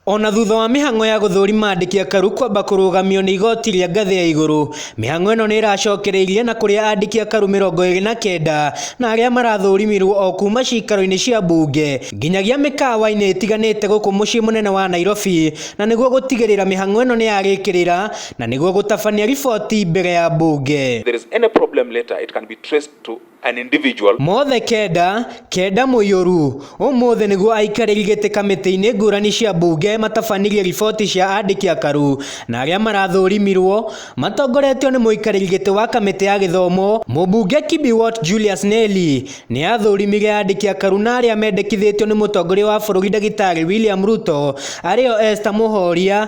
Ona thutha wa mĩhang'o ya gũthũrima andĩki akaru kwamba kũrũgamio nĩ igoti rĩa ngathĩ ya igũrũ, mĩhang'o ĩno nĩĩracokereirie na kũrĩa andĩki akaru mĩrongo ĩrĩ na kenda na arĩa marathũrimirwo o kuma ciikaro-inĩ cia mbunge nginyagia mĩkawa-inĩ ĩtiganĩte gũkũ mũciĩ mũnene wa Nairobi na nĩguo gũtigĩrĩra mĩhang'o ĩno nĩyarĩkĩrĩra na nĩguo gũtabania riboti mbere ya mbunge. If there is any problem later it can be traced to an individual. Mothe kenda, kenda mũiyũru. Ũmũthĩ nĩguo aikarĩri gĩtĩ kamĩtĩ-inĩ ngũrani cia mbunge matabanirie riboti cia andĩki akaru na arĩa marathũrimirwo matongoretio nĩ mũikarĩri gĩtĩ wa kamĩtĩ ya gĩthomo mũmbunge Kibiwot Julius Nelly nĩ athũrimire andĩki akaru na arĩa mendekithĩtio nĩ mũtongoria wa bũrũri ndagĩtarĩ William Ruto arĩo Esther Mũhoria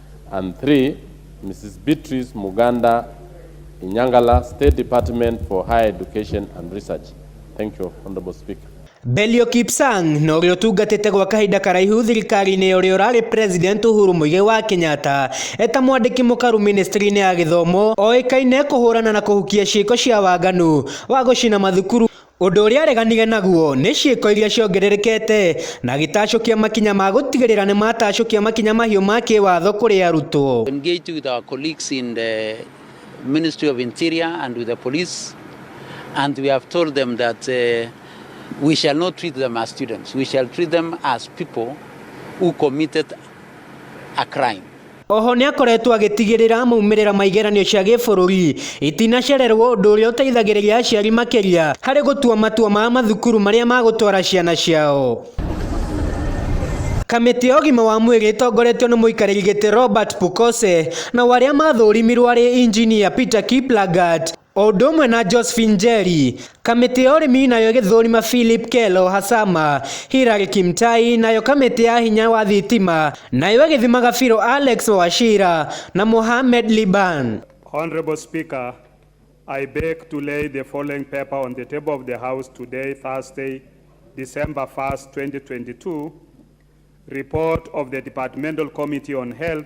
and three, Mrs. Beatrice Muganda Inyangala, State Department for Higher Education and Research. Thank you, Honorable Speaker. Belio Kipsang na ũrĩa ũtungatĩte gwa kahinda karaihu thirikari-inĩ ya ũrĩa ũrarĩ president Uhuru Muigai wa Kenyatta eta mwandĩki mũkaru ministry-inĩ ya gĩthomo oĩkaine kũhũrana na kũhukia ciĩko cia waganu wa gũcina mathukuru Ũndũ ũrĩa areganire naguo nĩ ciĩko iria ciongererekete na agĩtacũkia makinya ma gũtigĩrĩra nĩ matacũkia makinya mahiũ ma kĩwatho kũrĩ arutwo. engaged with our colleagues in the Ministry of Interior and with the police, and we have told them that uh, we shall not treat them as students, we shall treat them as people who committed a crime. Oho nĩakoretwo agĩtigĩrĩra maumĩrĩra ma igeranio cia gĩbũrũri itinacererwo ũndũ ũrĩa ũteithagĩrĩria aciari makĩria harĩ gũtua matua ma mathukuru marĩa magũtwara ciana ciao. Kamĩtĩ ya ũgima wa mwĩrĩ ĩtongoretio nĩ mũikarĩri gĩtĩ Robert Pukose nao arĩa mathũrimirwo arĩ Injinia Peter Kiplagat, O ũndũ ũmwe na Josephine Njeri, kamĩtĩ ya ũrĩmi nayo ĩgĩthũrima Philip Kelo Hasama, Hillary Kimtai, nayo kamĩtĩ ya hinya wa thitima nayo ĩgĩthima Gabiro Alex Wachira na Mohamed Liban. Honourable Speaker, I beg to lay the following paper on the table of the House today, Thursday, December 1st, 2022, Report of the Departmental Committee on Health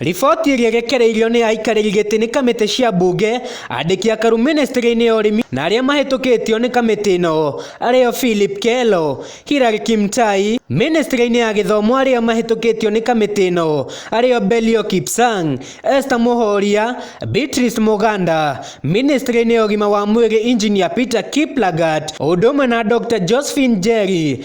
Riboti ĩrĩa ĩrekereirio nĩ aikarĩri gĩtĩ nĩ kamĩtĩ cia mbunge, andĩki akaru ministry-inĩ ya ũrĩmi na arĩa mahĩtũkĩtio nĩ kamĩtĩ ĩno arĩo Philip Kelo, Hilary Kimtai, ministry-inĩ ya gĩthomo arĩa mahĩtũkĩtio nĩ kamĩtĩ ĩno arĩo Belio Kipsang, Esther Mũhoria, Beatrice Mũganda, ministry-inĩ ya ũgima wa mwĩrĩ engineer Peter Kiplagat, o ũndũ ũmwe na Doctor Josephine Njeri,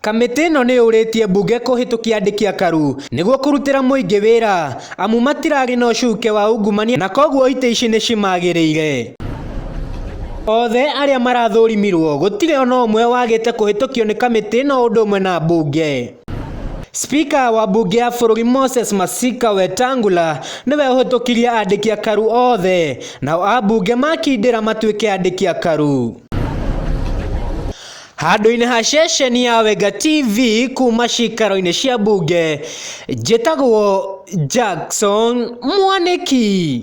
Kamĩtĩ ĩno nĩyũrĩtie mbunge kũhĩtũkia andĩki a karu nĩguo kũrutĩra mũingĩ wĩra amu matirarĩ na ũcuke wa ungumania na koguo itĩ ici nĩcimagĩrĩire. Othe arĩa marathũrimirwo gũtirĩ ona ũmwe wagĩte kũhĩtũkio nĩ kamĩtĩ ĩno ũndũ ũmwe na mbunge. Spika wa mbunge ya bũrũri Moses Masika Wetangula nĩwe ũhĩtũkirie andĩki a karu othe nao ambunge makindĩra matuĩke andĩki a karu. Handũ-inĩ ha ceceni ya Wenga TV kuma cikaro-inĩ cia mbunge, njĩtagwo Jackson Mwanĩki.